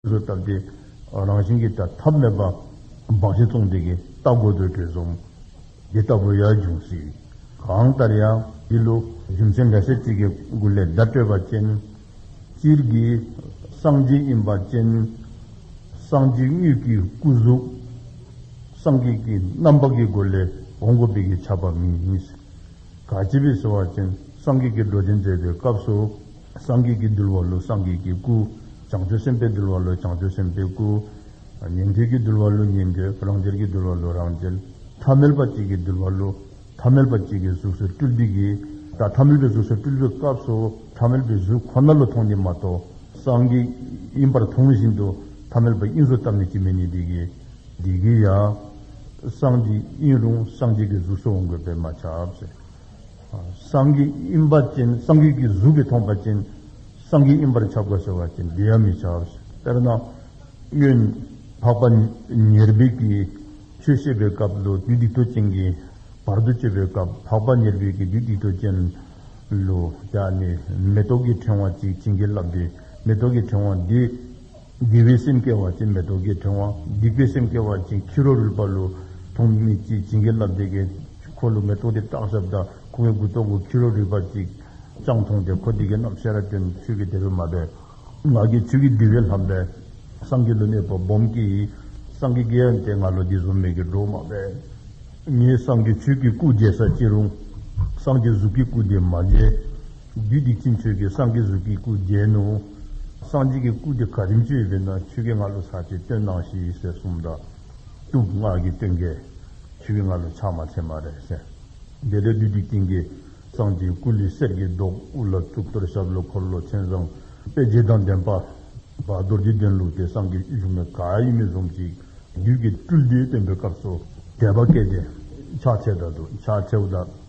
སོ་བཏབ་སྟེ། རང་བཞིན་གྱིས་དེ་ཐབས་མེད་པ། འབག་བཞི་བཙོངས་དེ་གའི་རྟ་རྒོད་དུ་བྲོས་སོང། འདི་ལྟ་བུ་ཡང་འབྱུང་སྲིད། གང་ལྟར་ཡང་འདི་ལོ་རྒྱུ་མཚན་འགའ་ཤས་གཅིག་གི་མགུར་ལས་བརྡ་སྤྲོད་པ་ཅན། སྤྱིར་གྱི་གསང་སྦྱིན་ཡིན་པ་ཅན། གསང་སྦྱིན་དངོས་ཀྱི་སྐུ་གཟུགས། སངས་རྒྱས་ཀྱི་རྣམ་པ་གྱི་སྒོ་ལས་འོང་སྒོ་དཔེ་གྱིས་ཆགས་པ་མིན། ག་ཅི་བས་ཟེར་བ་ཅན་སངས་རྒྱས་ཀྱི་སྒྲོ་འདི་མཛད་པའི་སྐབས་སུ། སངས་རྒྱས་ཀྱིས་འདུལ་བ་ལུས་སངས་རྒྱས་ཀྱི་སྐུ། བྱང་ཆུབ་སེམས་དཔས་འདུལ་བ་ལུས་བྱང་ཆུབ་སེམས་དཔའི་སྐུ། ཉན་ཐོས་ཀྱིས་འདུལ་བ་ལུས་ཉན་ཐོས་རང་རྒྱལ་གྱིས་འདུལ་བ་ལུས་རང་རྒྱལ། ཐ་མལ་པ་གཅིག་གིས་འདུལ་བ་ལུས་ཐ་མལ་པ་གཅིག་གི་གཟུགས་སུ་སྤྲུལ་འདི་གི། ད་ཐ་མལ་པའི་གཟུགས་སུ་སྤྲུལ་པའི་སྐབས་སུ་ཐ་མལ་པའི་གཟུགས་ཁོ་ན་ལ་མཐོང་ནི་མ་གཏོགས་སངས་རྒྱས་དབྱིངས་པར་མཐོང་བཞིན་དུ་ཐ་མལ་པ་དབྱིངས་སུ་བལྟམས་ནས་ཅི་མི་ནུས་འདི་གི། འདི་གི་ཡང། སངས་རྒྱས་དབྱིངས་རུང་སངས་རྒྱས་ཀྱི་གཟུགས་སུ་འོང་དགོས་པས་མ་ཁྱབ། སངས་རྒྱས་དབྱིངས་པ་ཅན་སངས་རྒྱས་ཀྱི་གཟུགས་ཀྱིས་མཐོང་པ་ཅན་སངས་རྒྱས་དབྱིངས་པར་ཆགས་པར་བྱ་བ་ཅན་འདི་ཡང་མི་བྱའོ། དཔེར་ན། གཡོན། འཕགས་པ་ཉེར་སྦས་ཀྱིས་ཆོས་བཤད་པའི་སྐབས་ལུས་སྡིག་ཏོ་ཅན་གྱི་བར་དུ་གཅོད་པའི་སྐབས་འཕགས་པ་ཉེར་སྦས་ཀྱིས་ལུས་སྡིག་ཏོ་ཅན། ལུས། བྱ་ནི་མེ་ཏོག་གི་ཕྲེང་བ་ཅིག་བྱིན་གྱིས་བརླབས་ཏེ་མེ་ཏོག་གི་ཕྲེང་བ་འདི། དགེ་བའི་སེམས་སྐྱེ་བར་བྱེད་མེ་ཏོག་གི་ཕྲེང་བ། སྡིག་པའི་སེམས་སྐྱེ་བར་བྱེད་ཁྱི་རོ་རུལ་པ་ལུས། ཐོགས་མེད་ཅིག་བྱིན་གྱིས་བརླབས་བདེ་དགེ། འཁོར་ལོ་མེ་ཏོག་དེ་བཀྲག་ཞབས་བདག། ཁོ་བོའི་མགུལ་ཐོགས་གུ་ཁྱི་རོ་རུལ་པ་ཅིག། སྤྱང་མཐོང་དེ་འཁོར་སྡིག་དགེ་རྣམས་ཤེས་རབ་སྟོན། ཆོས་ཀྱི་དད་པས་མ་སྦས། ང་རྒྱལ་ཆོས་ཀྱི་འདུལ་བས་ལྷམ་སྦས། སངས་རྒྱས་ལུས་གནས་བབ་འབུམ་གྱིས། སངས་རྒྱས་དགེ་བ་འདས་ང་ལོ་འདི་བཟོ་མེད་ཀྱི་སྒྲོག་མ་སྦས། ངས་སངས་རྒྱས་ཆོས་ཀྱི་སྐུ་མཇལ་ས་ཅི་རུང། སངས་རྒྱས་གཟུགས་ཀྱི་སྐུ་དེ་མ་མཇལ། རྒྱུད་སྡིག་ཅན་ཆོས་ཀྱི་སངས་རྒྱས་གཟུགས་ཀྱི་སྐུ་བརྒྱན་ནོ། སངས་རྒྱས་ཀྱི་སྐུ་དེ་ག་རིམ་ཅན་ཡོད་པས་ན་ཆོས་ཀྱི་ང་ལོ་ཟག་བཅས་སྟོན་སྣང་ཞེས་ཡིག་གསལ་གསུམ་དང། གཏུམ་སྔགས་ཀྱི་སྟོན་ཀས། ཆོས་ཀྱི་ང་ལོ་ཕྱགས་མ་ཚད་མ་རེ་གསལ། འདི་ལྟར་བདུད་སྡིག་ཅན་གྱི། སངས་རྒྱས་སྐུ་ལས་གསེར་གྱི་མདོག་དབུ་ལ་གཙུག་ཏོར་ཞབས་ལ་འཁོར་ལོ་མཚན་བཟང་དཔེ་བརྒྱད་དང་ལྡན། པདྨ་རྡོ་རྗེ་གདན་ལུགས་དེ་སངས་རྒྱས་བཞུགས་ན་ག་ཡིན་མི་གསུངས་ཤིག། བདུད་ཀྱི་སྤྲུལ་སྡེ་སྟོན་པའི་སྐབས་སུ། དད་པ་སྐད་དེ། ཕྱག་འཚལ་བདག་ཏུ་ཕྱག་འཚལ་བདག།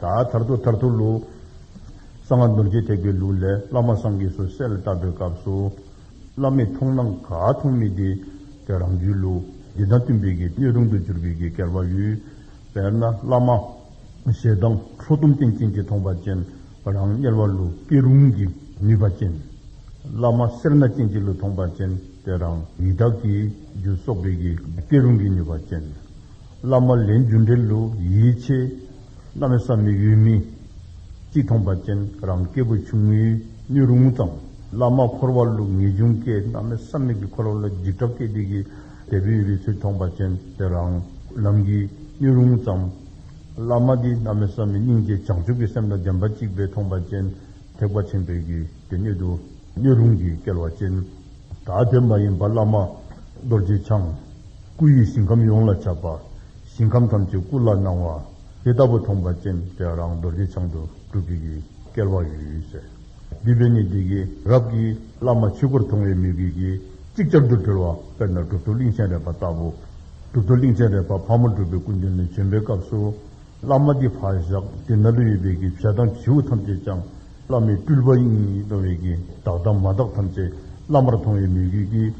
ཐར་ཐོར་ཐར་ཐོར་ཐོར་ལུགས། གསང་སྔགས་ནོར་གྱི་ཐེག་པའི་ལུགས་ལས་བླ་མ་སངས་རྒྱས་སུ་གསལ་ལ་བཏབ་པའི་སྐབས་སུ། བླ་མས་མཐོང་ན་ག་མཐོང་མི་བདེ། དེ་རང་བྱོན་ལུགས་འདི་དང་བསྟུན་པའི་གི་སྣོད་རུང་དུ་གྱུར་པའི་གི་སྐལ་བ་ཡོད། དཔེར་ན་བླ་མ། ཞེ་སྡང་ཁྲོ་གཏུམ་རྟེན་ཅན་གྱི་མཐོང་པ་ཅན། རང་དམྱལ་བ་ལུགས་སྐྱེ་རུང་གི་ནུས་པ་ཅན། བླ་མ་སེར་སྣ་ཅན་གྱི་ལུགས་མཐོང་པ་ཅན་དེ་རང་ཡི་དྭགས་ཀྱི་རྒྱུ་གསོག་པའི་གི་སྐྱེ་རུང་གི་ནུས་པ་ཅན། བླ་མ་ལས་འབྱུང་འབྲེལ་ལོ་ཡིད་ཆེས། བླ་མའི་ས་མིག་ཡུལ་མིག་གཅིག་མཐོང་པ་ཅན་རང་སྐྱེ་བོ་ཆུང་ངུའི་སྣོད་རུང་ངུ་ཙམ། བླ་མ་འཁོར་བ་ལུགས་ངེས་འབྱུང་སྐད་བླ་མའི་ས་མིག་གིས་འཁོར་བ་ལ་འཇིགས་སྐྲག་སྐད་ཅིག་གིས་དལ་བུས་རི་ཚུལ་མཐོང་པ་ཅན་དེ་རང་ལམ་གྱི་སྣོད་རུང་ངུ་ཙམ། བླ་མ་འདི་བླ་མའི་ས་མིག་སྙིང་རྗེ་བྱང་ཆུབ་ཀྱི་སེམས་དང་ལྡན་པ་གཅིག་པས་མཐོང་པ་ཅན་ཐེག་པ་ཆེན་པོའི་རྒྱུད་དེ་སྣོད་དུ་སྣོད་རུང་གི་སྐལ་བ་ཅན། ད་དེ་མ་ཡིན་པར་བླ་མ་རྡོ་རྗེ་འཆང། སྐུ་ཡི་ཞིང་ཁམས་ཡོངས་ལ་ཁྱབ་པ། ཞིང་ཁམས་ཐམས་ཅད་སྐུ་ལ་སྣང་བ། དེ་ལྟ་བུ་མཐོང་པ་ཅན་དེ་རང་རྡོ་རྗེ་འཆང་དུ་གྲུབ་པའི་གིས་བསྐལ་བ་ཡོད་ཡོད་ཟེར། བསྡུས་པས་ནི་འདི་གི་རབས་ཀྱི་བླ་མ་ཆོས་སྐུར་མཐོང་བའི་མི་དགོས་ཀྱི། ཅིག་ཅར་དུ་གྲོལ་བ་དཔེར་ན་གྲུབ་ཐོབ་གླིང་ཆེན་རས་པ་ལྟ་བུ། གྲུབ་ཐོབ་གླིང་ཆེན་རས་པ་ཕག་མོ་སྒྲུབ་པའི་སྐུ་མདུན་ནས་བྱོན་པའི་སྐབས་སུ། བླ་མ་འདི་བྷ་ཤཀྟི་ནཱ་ལུ་ཡི་བེ་ཀི་བྱད་དང་བྱིའུ་ཐམས་ཅད་ཅང། བླ་མའི་སྤྲུལ་པ་ཡིན་གསུངས་བའི་གིས་བདག་དང་མ་བདག་ཐམས་ཅད་བླ་མར་མཐོང་བའི་མོས་གུས་ཀྱིས།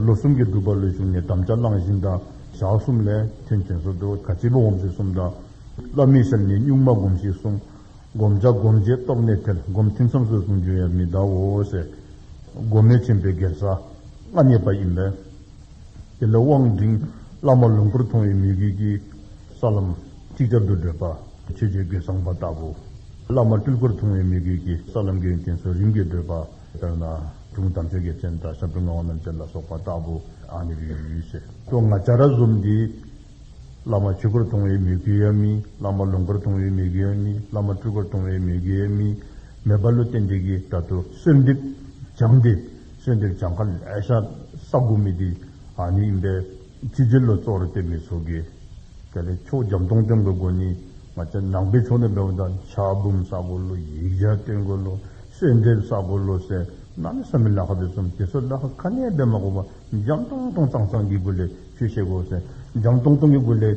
ལོ་གསུམ་གྱི་སྒྲུབ་པ་ལོས་བྱུང་ནས་དམ་བཅའ་བླངས་བཞིན་དང་ཞག་གསུམ་ལས་མཐུན་མཁྱེན་གསོལ་དུ་ག་སྤྱི་བོ་འོམ་ཞེས་གསུམ་དང། བླ་མའི་ཞབས་ནས་སྨྱུག་མ་བསྒོམ་ཞེས་གསུངས། བསྒོམ་བྱ་བསྒོམ་བྱེད་རྟོགས་གནས་ཐལ་བསྒོམ་ཐིམ་མཚམས་སོད་གསུངས་འབྱོན་ཡང་མི་གདའ་འོ་ཟེར། སྒོ་མེད་ཆེན་པོའི་སྒེར་ས་མངའ་བརྙེས་པ་ཡིན་པས། དེ་ལས་དབང་འབྲིང་བླ་མ་ལོངས་སྐུར་མཐོང་བའི་མོས་གུས་ཀྱིས། ས་ལམ། གཅིག་ཅར་དུ་བགྲོད་པ། ཆོས་བྱེད་དགེ་བཟང་པ་ལྟ་བུ། བླ་མ་སྤྲུལ་སྐུར་མཐོང་བའི་མི་དགོས་ཀྱི་ས་ལམ་གྱི་གན་སོ་རིམ་གྱིས་བགྲོད་པ། དཔེར་ན། སྒྲུང་གཏམ་ཆོས་རྒྱལ་ཅན་དང་ཞབས་བྲོ་མངའ་བ་རྣམས་ཅན་ལ་སོགས་པ་ལྟ་བུ། ཨ་ནི་རིའི་ཡུལ་ཞེས་སོ་ལྔ་བྱ་ར་གསུམ་སྟེ། བླ་མ་ཆོས་སྐུར་མཐོང་བའི་མི་དགོས་ཡ་མི། བླ་མ་ལུང་སྐུར་མཐོང་བའི་མི་དགོས་ཡ་མི། བླ་མ་སྤྲུལ་སྐུར་མཐོང་བའི་མི་དགོས་ཡ་མི། མེ་སྦར་ཀླུ་བསྟན་འགྲིག་གིས་དྲ་ཐུ་གསོལ་འདེབས་སྦྱངས་ཏེ། གསོལ་འདེབས་སྦྱངས་ཁར་ལས་ཤ་ཟ་དགོས་མི་དེ་ཨ་ནི་ཡིན་པས། ཆུ་རྗེ་ལོ་ཙོག་རུ་བསྟན་པའི་ཚོགས་ཀྱིས། གལ་ཏེ་ཕྱོགས་རྒྱམ་སྟོང་སྟོན་དགོས་དགོས་ནི། ང་ཅག་ནང་པའི་ཕྱོགས་ནས་འབད་པ་དང་ཕྱག་འབུམ་བསགས་དགོས་ལོ་ཡིག་ཆ་བསྟན་དགོས་ལོ་གསོལ་འདེབས་བསགས་དགོས་ལོ་ཟེར་ན་ནི་བསམ་མི་ལ་ཁ་དེ་ཚོ་དེ་ཚོ་ལ་ཁ་ཁ་ནས་འབད་མ་དགོས་པར་རྒྱམ་སྟོང་སྟོང་གཙང་གཙང་གི་སྒོ་ལས་ཆོས་བཤད་དགོས་ཟེར་རྒྱམ་སྟོང་སྟོང་གི་སྒོ་ལས།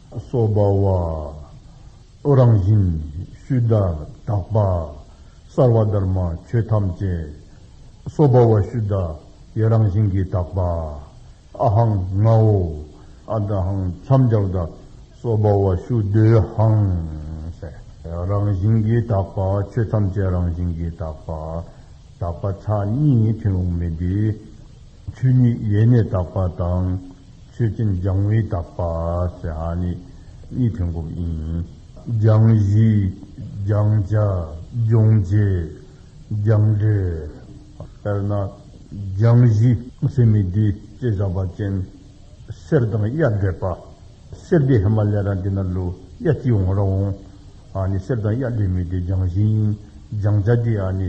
སོགས་པ། བློ་རང་བཞིན་ཤུལ་བདག་དག་པ། སར་བ་དར་མ་ཆོས་ཐམས་ཅད། སོགས་པ་བ་ཤུལ་བདག་ཡེ་རང་བཞིན་གྱིས་དག་པ། ཨ་ཧང་ངའོ་ཨ་ད་ཧང་མཚམས་སྦྱར་བདག། སོགས་པ་བ་ཤུལ་བདོའི་ཧང་སེ། རང་བཞིན་གྱིས་དག་པ་ཆོས་ཐམས་ཅད་རང་བཞིན་གྱིས་དག་པ། དག་པ་ཚ་གཉིས་ཐུན་འོག་མིན་ཏེ། ཆོས་ཉིད་ཡེ་ནས་དག་པ་དང། མཆོད་སྤྱིན་སྦྱང་བའི་དག་པ་ཞེས་ཧ་ནི་གཉིས་ཐོན་སྒོམ་ཡིན། སྦྱང་གཞི། སྦྱང་བྱ། སྦྱོང་བྱེད། སྦྱངས་འབྲས། དཔེར་ན། སྦྱང་གཞི། སེམས་མི་བདེ་ཅེས་བཞག་པ་ཅན། གསེར་དང་གཡའ་འདྲེས་པ། གསེར་འདི་ཧི་མ་ལའི་ར་འདི་ན་ལུས་གཡའ་ཅི་འོང་ར་འོང། ཧ་ནི་གསེར་དང་གཡའ་འདྲེས་མི་བདེ་སྦྱང་གཞི་ཡིན། སྦྱང་བྱ་འདི་ཧ་ནི།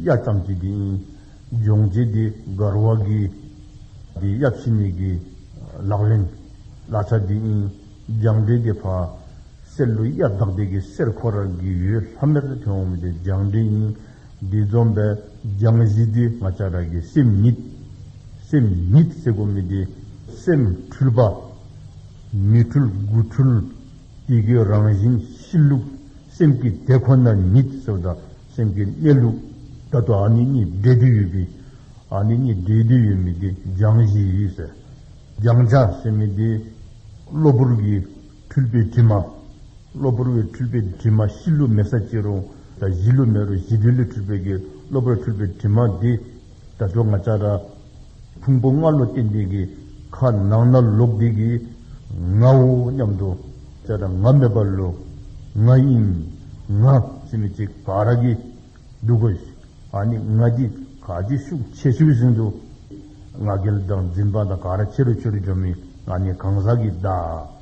གཡའ་ཙམ་གྱིས་འདི་ཡིན། སྦྱོང་བྱེད་དེ་མགར་བ་གི། དེ་གཡབ་ཕྱི་མིག་གི། ལག་ལེན། ལ་ཆ་དེ་ཨིན། སྦྱང་འབྲས་དེ་ཕ། སེར་ལུ་གཡའ་བདག་དེ་གི་སེར་ཁོ་ར་གི་ཡོས་ལྷ་མེར་ཏེ་དོན་འོག་མིན་དེ་སྦྱང་འབྲས་ཡིན། འདི་འཛོམས་པས་སྦྱང་གཞི་དེ་ང་ཅག་ར་གི་སེམས་ཉིད། སེམས་ཉིད་སེར་ཁོ་མིན་དེ། སེམས་འཁྲུལ་པ། མི་འཁྲུལ་དགུ་འཁྲུལ། དེ་གི་རང་བཞིན་གཤིས་ལུགས་སེམས་ཀྱི་དེ་ཁོ་ན་ཉིད་ཟེར་བ་དང། སེམས་ཀྱི་གནས་ལུགས་ལྟར་དུ་ཨ་ནི་གཉིས་སྡེ་དུ་ཡོད་པའི། ཨ་ནི་གཉིས་སྡེ་དུ་ཡོད་མི་དེ་སྦྱང་གཞི་ཡིན་ཟེར། སྦྱང་བྱ་ཟེར་མི་དེ། གློ་བུར་གྱི་འཁྲུལ་པའི་དྲི་མ། གློ་བུར་བའི་འཁྲུལ་པའི་དྲི་མ་གཤིས་ལུགས་མེད་ས་གཅིག་རུང་ད་གཞི་ལུགས་མེད་རུང་གཞི་དོན་ལས་འཁྲུལ་པའི་གློ་བུར་བའི་འཁྲུལ་པའི་དྲི་མ་དེ། དགྲ་བྲོ་ང་ཅག་འདྲ། ཕུང་པོ་ལྔ་ལོ་སྟེ་འདི་གི། ཁ་ནང་ན་ལོག་འདི་གི། ངའོ་སྙམ་དུ། ཅག་འདྲ་ང་མེད་པར་ལོ། ང་དབྱིངས། ང། སེམས་མི་གཅིག་ག་ར་གི། འདུག་གོ། ཨ་ནི་ང་འདི་ག་ཅིག་ཤུགས་ཆེ་ཤི་བ་ཟིན་འདུག། ང་རྒལ་དང་འཛིན་པ་དང་ག་ར་ཆེ་རུ་ཆེ་རུ་འཇོག་མིན་ང་ནི་གང་ཟག་གི་བདག།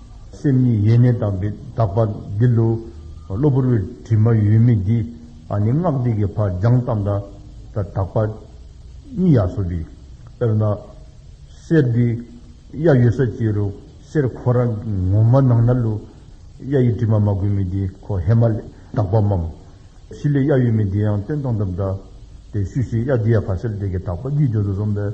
སེམས་ཉིད་ཡེ་ནས་དག་པའི་དག་པ་འདི་ལོ། གློ་བུར་བའི་དྲི་མ་ཡོད་མེད་འདི། ཨ་ནི་སྔགས་འདི་གི་བར་སྦྱངས་ཙམ་འདྲ། དག་པ་ཉིད་ཡ་སོ་བི། དཔེར་ན། གསེར་འདི་གཡའ་ཡོད་ས་ཅི་རུ། གསེར་ཁོ་རང་གི་ངོ་མ་ནང་ན་ལུ། གཡའ་ཡི་དྲི་མ་མ་གོས་མེད་འདི་ཁོ་ཧེ་མ་ལའི་དག་པ་འམ། ཤི་ལའི་གཡའ་ཡོད་མེད་འདི་ཡང་སྟོན་ཙམ་འདྲ། དེ་ཤུ་ཤི་གཡའ་འདི་ཡ་བྷ་སེལ་ཏེ་གི་དག་པ་ཉིད་འཇོག་ཏུ་སོང་བས།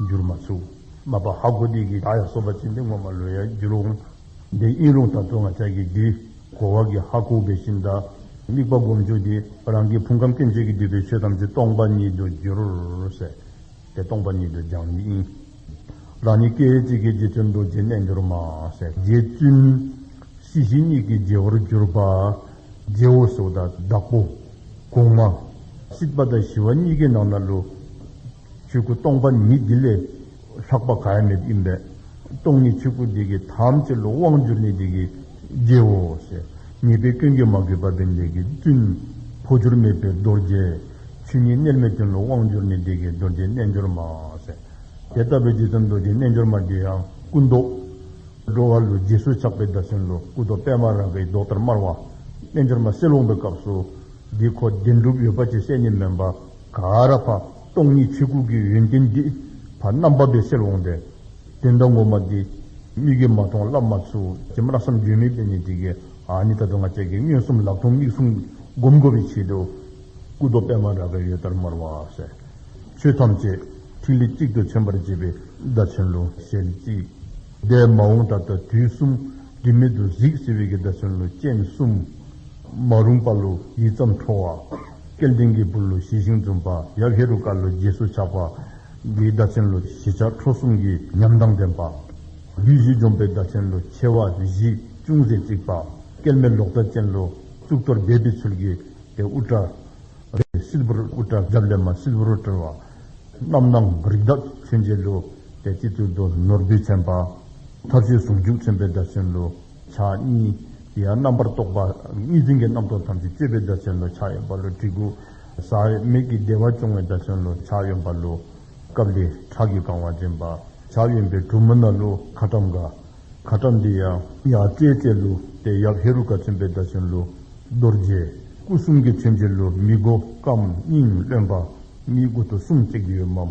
འགྱུར་མ་ཚུགས། མ་པ་ཧ་གོ་དིག་གིས་ད་ཡ་སོ་པ་ཅི་འདི་ངོ་མ་ལོས་ཡ་འགྱུར་འོང། འདི་དབྱིན་ལུང་ད་ཐུང་ང་ཅག་གིས་འདི། གོ་བ་གིས་ཧ་གོ་བའི་ཤིན་ད། དམིགས་པ་སྒོམ་ཆོག་འདི། རང་གིས་ཕུང་ཁམས་སྐྱེ་མཆེད་ཀྱི་སྡུད་པའི་ཆོས་ཐམས་ཅད་སྟོང་པ་ཉིད་དུ་འགྱུར། ཟེར། དེ་སྟོང་པ་ཉིད་དུ་སྦྱང་ཉིད་ཡིན། རང་ཉིད་སྐད་ཡིག་གཅིག་གིས་རྗེ་བཙུན་རྡོ་རྗེའི་རྣལ་འབྱོར་མ། ཟེར། རྗེ་བཙུན། སྲིད་ཞི་གཉིས་ཀྱི་རྗེ་བོར་གྱུར་པ། རྗེ་བོ་གཟུགས་དང་བདག་པོ། གོང་མ། སྲིད་པ་དང་ཞི་བ་གཉིས་ཀའི་ནང་ན་ལུས། ཆོས་སྐུ་སྟོང་པ་ཉིད་འདི་ལས། ལྷག་པ་གར་མེད་ཡིན་པས། སྟོང་ཉིད་ཆོས་སྐུ་འདི་གི་ཐམས་ཅད་ལ་དབང་བསྒྱུར་ནི་འདི་གི་རྒྱལ། ཉེས་པའི་སྐྱོན་གྱིས་མ་གོས་པ་བས་འདི་གི་བཙུན། འཕོ་འགྱུར་མེད་པའི་རྡོ་རྗེ། ཆོས་ཉིད་རྣལ་མའི་དོན་ལ་དབང་བསྒྱུར་ནི་འདི་གི་རྡོ་རྗེ་རྣལ་འབྱོར་མ། དེ་ལྟ་བུའི་ཇི་ཙམ་རྡོ་རྗེ་རྣལ་འབྱོར་མ་འདི་ཡང་སྐུ་མདོག། འགྲོ་བ་ལུས་རྗེས་སུ་ཆགས་པའི་བདག་སེམས་ལ་སྐུ་མདོག་པད་མ་ར་གའི་མདོག་ལྟར་དམར་བ། རྣལ་འབྱོར་མ་གསེར་ལོང་པའི་སྐབས་སུ། འདི་ཁོ་བདེན་གྲུབ་ཡོད་པ་ཅི་ཟད་ནི་མིན་པ། ག་ར་བ། སྟོང་ཉིད་ཆོས་སྐུ་གི་ཡོན་ཏན་འདི། བར་སྣང་འབབ་པའི་སེལ་འོང་འདྲའི། དེ་འདྲ་ངོ་མ་འདི། མིག་གིས་མ་མཐོང་བསླབ་མ་ཚུགས། ཅེས་བརླག་བསམ་བརྗོད་མེད་པས་ནི་འདི་གའི། ཨཱ་ནི་ད་དུང་ང་བཅས་ཀྱི་མངོན་སུམ་ལག་མཐོང་མིག་གསུམ་བསྒོམ་གོ་བའི་ཆེད་དུ། སྐུ་རྡོ་པད་མ་ར་གའི་ཡོལ་ལྟར་དམར་བ། གསལ། ཆོས་ཐམས་ཅད། ཐིག་ལེ་གཅིག་ཏུ་མཚོན་པར་བྱེད་པའི་བརྡ་ཚོན་ལོ་ཞལ་གཅིག། འདས་མ་འོངས་ད་ལྟ་དུས་གསུམ། སྒྲིབ་མེད་དུ་གཟིགས་ཟེར་བའི་གྱི་བརྡ་ཚོན་ལོ་སྤྱན་གསུམ། མ་རུངས་པ་ལོ་ཡིད་ཙམ་འཕྲོ་བ། སྐལ་ལྡན་གྱི་བུ་ལོ་བཞི་ཤིང་འཛུམ་པ་ཡབ་ཧེ་རུ་ཀ་ལོ་རྗེས་སུ་ཆགས་པ། འདིའི་བདག་ཆེན་ལོ་བཞི་ཆགས་ཁྲོ་གསུམ་གྱི་ཉམས་དང་ལྡན་པ། བདུད་བཞི་འཇོམས་པའི་བདག་ཆེན་ལོ་མཆེ་བ་བཞི་ཅུང་ཟད་གཙིགས་པ། སྐལ་མེད་ལོག་ལྟ་ཅན་ལོ་གཙུག་ཏོར་སྦས་པའི་ཚུལ་གྱིས་ཏེ་དབུ་སྐྲ། རེད། སིལ་བུར་དབུ་སྐྲ་རྒྱབ་ལས་མ་སིལ་བུར་བཀྲུ་བ། རྣམ་སྣང་རིགས་བདག་མཚོན་བྱེད་ལོ། ཏེ་སྤྱི་གཙུག་རྡོ་ནོར་བུས་མཚན་པ། ཐབས་ཤེས་ཟུང་འཇུག་མཚོན་པའི་བདག་ཆེན་ལོ། ཕྱག་གཉིས། དེ་ཡང་རྣམ་པར་རྟོག་པ་གཉིས་འཛིན་གྱི་རྣམ་རྟོག་ཐམས་ཅད་གཅོད་པའི་བརྡ་ཆེན་ལོ་ཕྱག་གཡོན་པ་ལོ་གྲི་གུག། ས་བོན་མིག་གི་བདེ་བ་སྐྱོང་བའི་བརྡ་ཆེན་ལོ་ཕྱག་གཡོན་པ་ལོ། ཀཱི་ལི། ཁྲག་གིས་གང་བ་འདྲེན་པ། ཕྱག་གཡོན་པའི་གྲུ་མུ་ན་ལོ་ཁ་ཏྲམ་ཀ། ཁ་ཏྲམ་འདི་ཡང། ཡང་སྤྲོས་བཅས་ལོ། དེ་ཡབ་ཧེ་རུ་ཀ་མཚོན་པའི་བརྡ་ཆེན་ལོ། རྡོ་རྗེ། སྐུ་གསུམ་གྱི་མཚོན་བྱེད་ལོ་མི་མགོ་སྐམ་སྙིང་རློན་པ། གཉིས་སྐུ་དུག་གསུམ་བརྩེགས་ཡོད་མམ།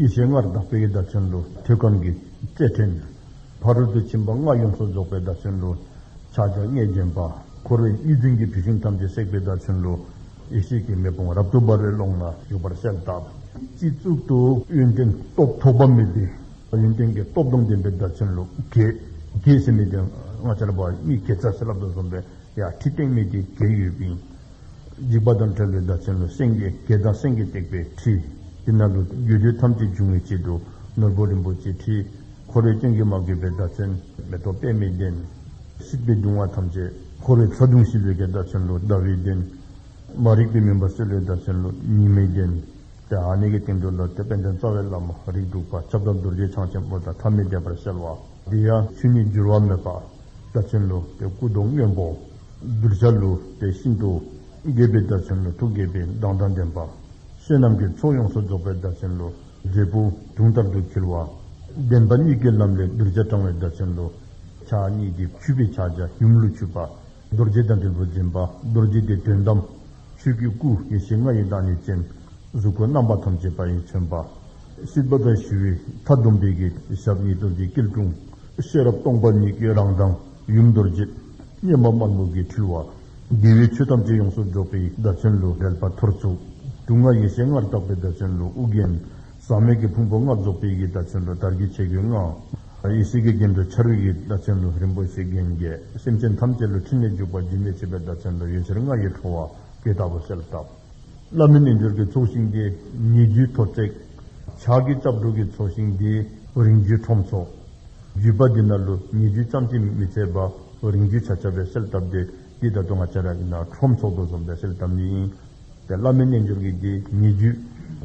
ཡེ་ཤེས་ལྔར་དག་པའི་བརྡ་ཆེན་ལོ། ཐོད་སྐམ་གྱི་རྩེར་འཁྲིལ་ནས། ཕ་རོལ་ཏུ་ཕྱིན་པ་ལྔ་ཡོངས་སུ་རྫོགས་པའི་བརྡ་ཆེན་ལོ། ཕྱག་རྒྱ་ལྔས་བརྒྱན་པ། འཁོར་བའི་གཉིས་འཛིན་གྱི་བུད་ཤིང་ཐམས་ཅད་བསྲེགས་པའི་བརྡ་ཆེན་ལོ། ཡེ་ཤེས་ཀྱི་མེ་དཔུང་རབ་ཏུ་འབར་བའི་ཀློང་ན་བཞུགས་པར་གསལ་བཏབ། སྤྱི་གཙུག་ཏུ། ཡོན་ཏན་སྟོབས་ཐོགས་པ་མེད་པའི། ཡོན་ཏན་གྱི་སྟོབས་དང་ལྡན་པའི་བརྡ་ཆེན་ལོ། བགེགས་བྱེད་མེད་དེ། ལྔ་ཆར་པ་གཉིས་གས་ཚར་ཟིལ་རླབས་དང་འཛོམ་པའི་ཡར་འཁྲིད་སྟེང་མེད་དེ་གས་ཡོད་པའི། འཇིགས་པ་དང་བྲལ་བའི་བདག་བྱིན་ལོ་སེང་གེ་གེ་དང་སེང་གེ་བཏེགས་པའི་ཁྲི། དེ་ན་ལུས་རྒྱུ་དུས་ཐམས་ཅད་འབྱུང་བའི་དཔྱིད་དུ་ནོར་བུ་རིན་པོ་ཆེའི་ཁྲི། འཁོར་བའི་སྐྱོན་གྱིས་མ་གོས་པའི་བདག་བྱིན། མེ་ཏོག་པད་མའི་གདན། སྲིད་པའི་གདུང་བ་ཐམས་ཅད། འཁོར་བའི་ཚ་གདུང་ཞི་ལོས་ཀྱི་བདག་བྱིན་ལོ་ཟླ་བའི་གདན། མ་རིག་པའི་མུན་པ་སེལ་བའི་བདག་བྱིན་ལོ་ཉི་མའི་གདན། དེ་ཨ་ནེ་ཀའི་སྟེང་དུ་ལོ་དེ་དཔལ་ལྡན་རྩ་བའི་བླ་མ་རིགས་དྲུག་པ་ཁྱབ་བདག་རྡོ་རྗེ་འཆང་ཆེན་པོ་དང་ཐ་མི་དད་པར་གསལ་བ། དེ་ཡང་ཆུ་གཉིས་བསྒྱུར་བ་མེད་པ་བདག་བྱིན་ལོ་དེ་སྐུ་གདུང་སྔོན་པོ། གདུལ་བྱ་ལུས་པའི་ཤིན་ཏུ་རྒས་པའི་བརྡར་འཆིང་ལོ་ཐུགས་དགྱེས་པའི་མདངས་དང་ལྡན་པ། བསོད་ནམས་ཀྱི་ཚོགས་ཡོངས་སུ་རྫོགས་པའི་བརྡར་འཆིང་ལོ་འབྲས་བུ་དུང་ལྟར་དུ་འཁྱིལ་བ། བདེན་པ་གཉིས་ཀའི་ལམ་ལས་གདུལ་བྱ་དྲང་བའི་བརྡར་འཆིང་ལོ། ཕྱག་གཉིས་ཀྱིས་འཁྱུད་པའི་ཕྱག་རྒྱ་ཡུམ་ལུས་འཁྱུད་པ། རྡོ་རྗེ་དང་དྲིལ་བུ་འཛིན་པ་རྡོ་རྗེ་དེས་དོན་དམ། ཆོས་ཀྱི་སྐུ་ཡེ་ཤེས་ལྔ་ཡི་བདག་ཉིད་ཅན། གཟུགས་སྐུ་རྣམ་པ་ཐམས་ཅད་པ་ཡིས་མཚོན་པ། སྲིད་པ་དང་ཞི་བའི་མཐའ་སྡོམ་པའི། ཞབས་གཉིས་སྟོབས་ཀྱི་སྐྱིལ་ཀྲུང། ཤེས་རབ་སྟོང་པ་ཉིད་ཀྱི་རང་མདངས། ཡུམ་རྡོ་རྗེ་སྙེམས་པ་དམར་སྨུག་གིས་འཁྲུལ་བ། དགེ་བའི་ཆོས་ཐམས་ཅད་ཡོངས་སུ་རྫོགས་པའི་བརྡ་ཆེན་ལུས་རལ་པ་ཐོར་ཚུགས། དུག་ལྔ་ཡེ་ཤེས་ལྔར་དག་པའི་བརྡ་ཆེན་ལུས་དབུ་རྒྱན། ཟག་མེད་ཀྱི་ཕུང་པོ་ལྔར་རྫོགས་པའི་ཡི་གེ་བརྡ་ཆེན་ལུས་དར་གྱི་ཆས་གོས་ལྔ། ཡེ་ཤེས་ཀྱི་རྒྱན་དུ་འཆར་བའི་ཡི་བརྡ་ཆེན་ལུས་རིན་པོ་ཆེའི་རྒྱན་བརྒྱད། སེམས་ཅན་ཐམས་ཅད་ལུས་ཕྲིན་ལས་འཇུག་པ་རྒྱུན་མི་འཆད་པའི་བརྡ་ཆེན་ལུས་ཡུན་ཆར་ལྔ་ཡི་འཕྲོ་བ། དེ་ལྟ་བུ་གསལ་བཏབ། བླ་མེད་རྣལ་འབྱོར་གྱི་ཚོགས་ཞིང་འདི། ཉེ་རྒྱུའི་ཐོ་བརྩེགས། ཕྱག་གི་སྐྱབས་འགྲོ་གི་ཚོགས་ཞིང་འདི། རིང་བརྒྱུད་ཁྲོམ་ཚོགས། བརྒྱུད་པ་འདི་ན་ལུ་ཉེ་རྒྱུ་ཅམ་ཅི་མི་ཚད་པ། རིང་བརྒྱུད་བྱ་བྱ་བའི་གསེར་བཏབ་འདི། འདི་ད་དུང་ང་བྱ་ར་ཡིན་ན་ཁྲོམ་ཚོགས་རྡོ་འཛོམས་པའི་གསེར་བཏབ་འདི་ཡིན། དེ་བླ་མེད་རྣལ་འབྱོར་གྱི་འདི་ཉེ་རྒྱུད།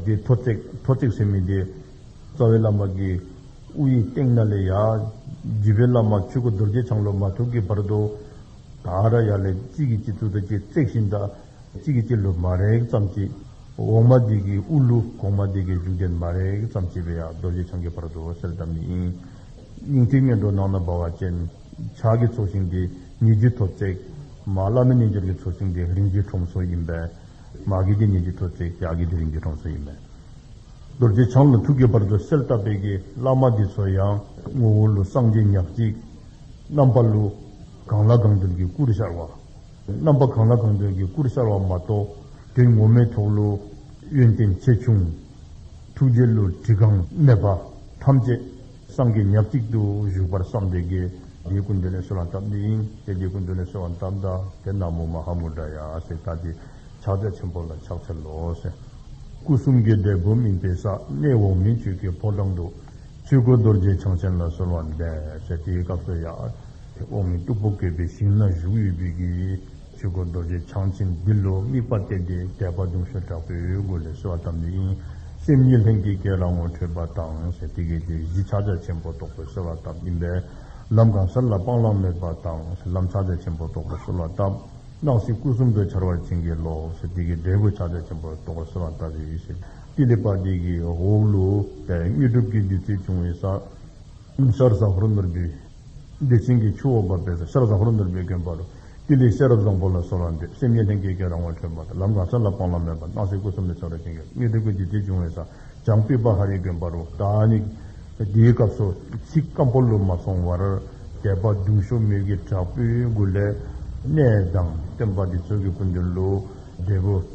འདི་ཐོ་བརྩེགས་ཐོ་བརྩེགས་ཟེར་མི་འདི། རྩ་བའི་བླ་མ་གི། དབུ་ཡི་སྟེང་ན་ལས་ཡ། བརྒྱུད་པའི་བླ་མ་ཆོས་སྐུ་རྡོ་རྗེ་འཆང་ལོ་མ་ཐུག་གི་བར་དུ། ད་ར་ཡ་ལས་གཅིག་གིས་གཅིག་ཚུགས་ད་གཅིག་བརྩེགས་ཤིང་ད། གཅིག་གིས་སྤྱི་ལུགས་མ་རེག་ཙམ་བྱེད། འོག་མ་འདི་གིས་དབུ་ལུགས་གོང་མ་འདི་གིས་འཇུག་ལྡན་མ་རེག་ཙམ་བྱེད་པས་ཡང་རྡོ་རྗེ་འཆང་གི་བར་དུ་འོད་གསལ་བསྡམ་ནི་ཡིན། སྙིང་ཐིག་སྨིན་གྲོལ་ནང་ན་འབར་བ་ཅན། ཕྱག་གི་ཚོགས་ཞིང་འདི་ཉིད་རྒྱུད་ཐོབ་བརྩེགས། མ་བླ་མེད་རྣལ་འབྱོར་གྱི་ཚོགས་ཞིང་འདི་རིམ་བཞིན་ཁྲོམ་སོ་ཡིན་པས། མ་གི་འདི་ཉིད་རྒྱུད་ཐོབ་བརྩེགས་ཕྱག་གི་འདི་རིམ་བཞིན་ཁྲོམ་སོ་ཡིན་པས། རྡོ་རྗེ་འཆང་ལ་ཐུག་གི་བར་དུ་གསལ་བཏབ་པས་ཀྱི་བླ་མ་འདི་ཚོ་ཡང། ངོ་བོ་ལུགས་སངས་རྒྱས་ཉག་གཅིག། རྣམ་པ་ལུགས། གང་ལ་གང་འདུལ་གྱི་སྐུར་ཤར་བ། རྣམ་པ་གང་ལ་གང་འདོད་ཀྱི་སྐུར་གསལ་བ་མ་གཏོགས་དོན་ངོ་མའི་ཐོག་ཀླུ། ཡོན་ཏན་ཆེ་ཆུང། ཐུགས་རྗེ་བསླུ་བྲིད་གང་གནས་པ། ཐམས་ཅད། སངས་རྒྱས་ཉག་གཅིག་ཏུ་བཞུགས་པར་བསམ་སྟེ། དེའི་སྐུ་འདི་ནས་གསོལ་བ་འདབ་འདི་ཡིན་ཏེ་དེའི་སྐུ་འདི་ནས་གསོལ་བ་འདབ་འདི་དེ་ན་མོ་མ་ཧཱ་མུ་དྲ་ཡ་ཨ་སེ་ཀ་ཏི། ཕྱག་རྒྱ་ཆེན་པོ་ལ་ཕྱག་འཚལ་ལོ། སྐུ་གསུམ་གའི་བཟླས་སྒོམ་སྨིན་པའི་ས་གནས་འོག་མིན་ཆོས་ཀྱི་ཕོ་བྲང་དུ། ཆོས་སྐུ་རྡོ་རྗེ་འཆང་ཆེན་ལ་གསོལ་བ་འདེབས། ཞེས་དེའི་སྐབས་སུ་ཡང། དེ་འོག་མིན་སྟུག་པོ་བསྐལ་པའི་ཞིང་ན་བཞུགས་ཡོད་དུས་ཀྱི། ཆོས་སྐུ་རྡོ་རྗེ་འཆང་ཆེན་འདི་ལོ་དམིགས་པ་གཏད་དེ་དད་པ་གདུང་ཤུགས་དྲག་པོས་འོད་སྐུ་ལས་གསོལ་བ་བཏབ་ནས་དབྱིངས་སེམས་ཉིད་ལྷན་སྐྱེས་སྐྱེས་ར་ངོ་འཕྲོད་པ་དང་ཞེས་དེ་སྐད་དེ་བཞི་ཕྱག་རྒྱ་ཆེན་པོ་རྟོགས་པའི་གསོལ་བ་བཏབ་ཡིན་པས། ལམ་གང་སར་ལ་སྤང་བླང་མེད་པ་དང་ཞེས་ལམ་ཕྱག་རྒྱ་ཆེན་པོ་རྟོགས་པའི་གསོལ་བ་བཏབ། སྣང་སྲིད་སྐུ་གསུམ་དུ་འཆར་བར་བྱིན་གྱིས་རློབས། ཞེས་དེ་སྐད་འབྲས་བུ་ཕྱག་རྒྱ་ཆེན་པོ་རྟོགས་པའི་གསོལ་བ་བཏབ། ཞེས་ཀི་ལི་པཱ་ཏི་གི་ཧོའུ་ལུའུ་པའི་དངོས་གྲུབ་ཀྱི་བདུད་རྩི་བྱུང་བའི་ས། ཤར་བཟའ་ཧོར་ནོར་བུའི། བདེ་ཆེན་གྱི་ཆུ་འོག་འབབ་པའི་ས་ཤར་བཟའ་ཧོར་ནོར་བུའི་དགོན་པ་རུ། ཀི་ལིའི་ཤེས་རབ་བཟང་པོ་ལ་གསོལ་བ་འདེབས་སེམས་ཉིད་ལྷན་སྐྱེས་ཀྱི་རང་དབང་འཕྲོད་པ་དང་ལམ་གང་ས་ལ་སྤང་བླང་མེད་པར་སྣང་སྲིད་སྐུ་གསུམ་ལས་ཆགས་རབ་ཅན་གྱི་དངོས་གྲུབ་ཀྱི་བདུད་རྩི་བྱུང་བའི་ས། བྱང་པི་པ་ཧ་རིའི་དགོན་པ་རུ། དཱ་ནི། དེའི་སྐབས་སོ་ཚིགས་སྐམ་པོ་ལུས་མ་སོང་བར། དད་པ་གདུང་ཤུགས་མིག་གི་དྲག་པོའི་མགུར་ལས། གནས་དང་བསྟན་པ་འདི་ཚོགས་ཀྱི་སྐུ་མདུན་ལུས། འབྲས་བུ།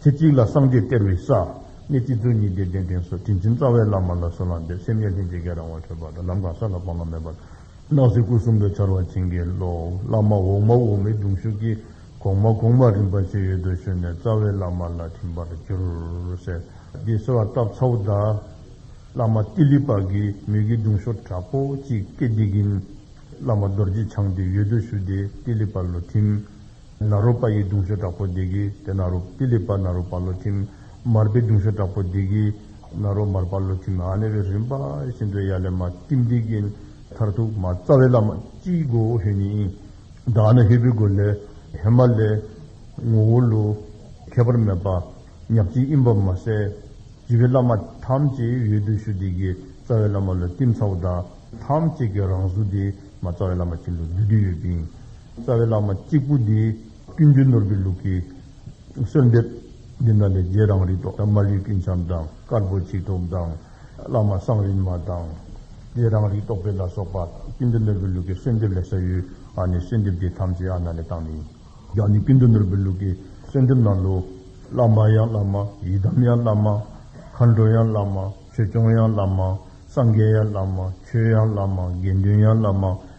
ཚེ་གཅིག་ལ་སངས་རྒྱས་སྟེར་བའི་ས། གནས་གཅིག་ཚུལ་གཉིས་བདེ་ལྡན་ལྡན་སོགས་དྲིན་ཆེན་རྩ་བའི་བླ་མ་ལ་གསོལ་བ་འདེབས་སེམས་ཉེར་ལྷན་ཅིག་སྐྱེས་རང་བ་འཕྲོད་པ་དང་ལམ་གང་ས་ལ་སྤང་བླང་མེད་པར། སྣང་སྲིད་སྐུ་གསུམ་དུ་འཆར་བ་བྱིན་གྱིས་རློབས། བླ་མ་འོག་མ་འོག་མའི་གདུང་ཤུགས་ཀྱིས། གོང་མ་གོང་མ་རིམ་པ་ཕྱེད་ཡོལ་དུ་བཞོན་ནས་རྩ་བའི་བླ་མ་ལ་ཐིམ་པར་གྱུར། ཟེར། འདི་ཟེར་བ་སྟབས་ཚ་བོ་གདའ། བླ་མ་ཏི་ལི་པགས་ཀྱིས་མོས་གུས་གདུང་ཤོར་དྲག་པོ་ཅིག་སྐྱེས་འདི་གིན། བླ་མ་རྡོ་རྗེ་འཆང་དེ་ཡོལ་དུ་བཞུགས་ཏེ་ཏི་ལི་པགས་ལོ་ཐིམ། ན་རོ་པ་ཡི་གདུང་ཤོག་དྲག་པོ་འདི་གི་དེ་ན་རོ་པི་ལི་པ་ན་རོ་པ་ལོ་ཐིམ། མར་པའི་གདུང་ཤོག་དྲག་པོ་འདི་གི་ན་རོ་མར་པ་ལོ་ཐིམ་ཨ་ནེ་རེ་རིམ་པ་བཞིན་དུ་ཡ་ལེ་མ་ཏིམ་ཏིག་གི་མཐར་ཐུག་མ་རྩ་བའི་བླ་མ་སྤྱིའི་སྒོ་ཧེ་ནི་ཨིན། བདག་ནི་ཧེ་བུའི་སྒོ་ལས་ཧེ་མ་ལའི་ངོ་བོ་ལུ། ཁྱད་པར་མེད་པ་ཉག་གཅིག་ཨིན་པར་མ་ཟད། སྤྱི་བའི་བླ་མ་ཐམས་ཅད་ཡོད་དུ་ཞུ་འདི་གི་རྩ་བའི་བླ་མ་ལོ་ཏིམ་ཚ་བོ་དག་ཐམས་ཅད་ཀྱི་རང་གཟུགས་འདི་མ་རྩ་བའི་བླ་མ་ཁྱིམ་དུ་བསྡུ་འདི་ཡོད་པིན། རྩ་བའི་བླ་མ་གཅིག་པུ་འདི། ཀུན་འདུས་ནོར་བུའི་ལུགས་ཀྱི། གསོལ་འདེབས། འདི་དག་ལས་རྗེ་རང་རིག་ཐོག་མར་ཡུལ་ཀུན་བྱམས་དང་དཀར་པོ་ཆིག་ཐུབ་དང། བླ་མ་གསང་རིན་མ་དང། རྗེ་རང་རིག་རྟོགས་འཕེལ་ལ་སོགས་པ། ཀུན་འདུས་ནོར་བུའི་ལུགས་ཀྱི་གསོལ་འདེབས་ལས་ས་ཡུལ་ཨ་ནི་གསོལ་འདེབས་འདི་ཐམས་ཅད་ཨ་ན་ལས་བཏང་ནས། རྒྱ་ནི་ཀུན་འདུས་ནོར་བུའི་ལུགས་ཀྱི་གསོལ་འདེབས་གནང་ལུགས། བླ་མ་ཡང་བླ་མ་ཡི་དམ་ཡང་བླ་མ། མཁའ་འགྲོ་ཡང་བླ་མ་ཆོས་སྐྱོང་ཡང་བླ་མ། སངས་རྒྱས་ཡང་བླ་མ་ཆོས་ཡང་བླ་མ་དགེ་འདུན་ཡང་བླ་མ།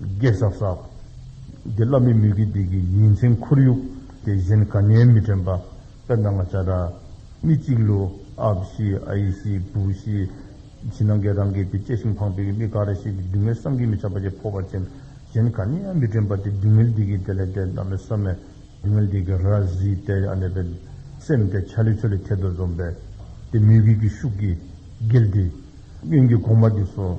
རྒྱས་ཟབ་ཟབ། དགེ་བླ་མི་མི་དགེ་སྡིག་གི་ཉིན་མཚན་ཁོར་ཡུག་དེ་བཞིན་དགའ་ཉེ་མི་དྲན་པ། དཔེར་ན་ང་བྱ་བྲལ། མི་གཅིག་ལུ། ཨབ་ཤི། ཨ་ཡེ་ཤི། བུ་ཤི། བྱིས་ནང་འགལ་རང་འགལ་དེ་སྐྱེས་ཤིང་འཕངས་པས་མི་ག་རེ་ཞིག་གི་སྡུག་བསྔལ་བསམ་གྱིས་མི་ཁྱབ་པ་ཆེས་ཕོ་བར་ཅན། གཞན་ག་ནས་ཡང་མི་དྲན་པ་དེ་སྡུག་བསྔལ་འདི་གིས་དེ་ལས་འདས་ན་མི་བསམ་མོད། སྡུག་བསྔལ་འདི་གིས་ར་བཟི་སྟེ་ཡང་གནས་པའི། སེམས་དེ་ཆ་ལེ་ཆོ་ལེ་ཐལ་དུ་འཛོམས་པས། དེ་མི་དགེ་ཀྱི་ཤུགས་ཀྱིས། འགལ་འདི། གཡོན་གྱི་གོང་མ་འདི་སོ།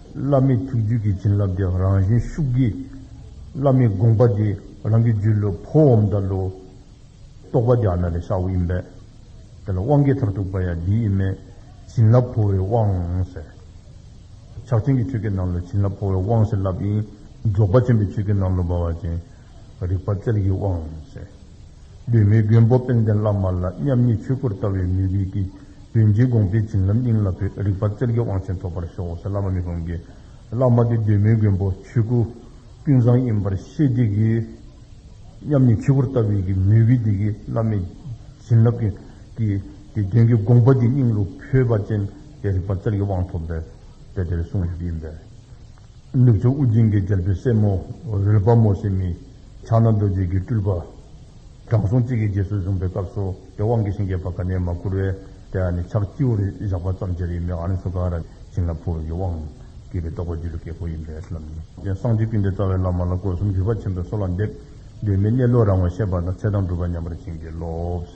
བླ་མེད་ཐུགས་རྒྱུད་ཀྱི་བྱིན་རླབས་དེ་རང་བཞིན་ཤུགས་ཀྱིས། བླ་མེད་དགོངས་པ་འདི་རང་གི་རྒྱུད་ལུས་ཕོ་འོམ་དང་ལོ། རྟོགས་པ་རྒྱ་ནག་གི་ཤ་བོ་ཡིན་པས། དེ་ལ་དབང་གིས་མཐར་ཐུག་པ་ཡང་འདི་ཡིན་མོད། བྱིན་རླབས་འཕོ་བའི་དབང། ཕྱག་ཆེན་གྱི་ཆོས་སྐད་ནང་ལོ་བྱིན་རླབས་འཕོ་བའི་དབང་ཞེས་བསླབ་ཡིན། རྫོགས་པ་ཆེན་པོའི་ཆོས་སྐད་ནང་ལོ་འབར་བ་ཅན། རིག་པ་རྩལ་གྱི་དབང། གདོད་མའི་མགོན་པོ་དཔལ་ལྡན་བླ་མ་ལ་མཉམ་ཉིད་ཆོས་སྐུར་བལྟ་བའི་མོས་གུས་ཀྱིས་དོན་གྱི་དགོངས་པའི་བྱིན་རླབས་སྙིང་ལ་འཕོས་རིག་པ་རྩལ་གྱི་དབང་ཆེན་ཐོབ་པར་ཤོག་ཟེར་བླ་མ་མི་ཕམ་གྱིས། བླ་མ་འདི་གདོད་མའི་མགོན་པོ་ཆོས་སྐུ་ཀུན་བཟང་ཡིན་པར་ཤེས་བདེ་གི། མཉམ་ཉིད་ཆོས་སྐུར་བལྟ་བའི་གི་མོས་གུས་བདེ་གི་བླ་མའི་བྱིན་རླབས་ཀྱིས། དེ་དོན་གྱི་དགོངས་པ་འདི་སྙིང་རུ་འཕོས་པ་ཅན་དེ་རིག་པ་རྩལ་གྱི་དབང་ཐོབ་པའི་དཔལ་དེར་སོང་ཞིག་ཡིན་པས། ནུབ་ཕྱོགས་དབུ་རྒྱན་གྱི་རྒྱལ་པོའི་སྲས་མོ་ཝེར་པ་མོ་སི་མི། ཕྱག་ན་རྡོ་རྗེ་གི་སྤྲུལ་པ། དྲང་སྲོང་གཅིག་གིས་རྗེས་སུ་བཟུང་པའི་སྐབས་སུ་དེ་དབང་གི་ཞིང་རྒྱས་པ་ག་ནས་མ་བསྐུར་བས་དེ་ཨ་ནི་ཕྱག་སྤྱི་བོར་བཞག་པ་ཙམ་གྱིས་རིགས་མེད་ཨ་ནི་སུ་ཀ་ར་བྱིན་ལ་ཕུར་གྱི་དབང། གྱིས་པའི་རྟོགས་པ་རྒྱུད་ལ་སྐྱེས་བུ་ཡིན་པས་ལམ་རྒྱུན། རྒྱན་བསང་སྤྱི་བཏུལ་འདི་རྩ་བའི་བླ་མ་ལ་དགོས་གསུམ་གྱུར་པ་ཆེན་པོས་སོ་ལ་འདེབས། གདོད་མའི་གནས་ལུགས་རང་ངོ་ཤེས་པ་དང་ཚེ་དང་སྒྲུབ་པ་ཉམས་པར་བྱིན་གྱིས་རློབས།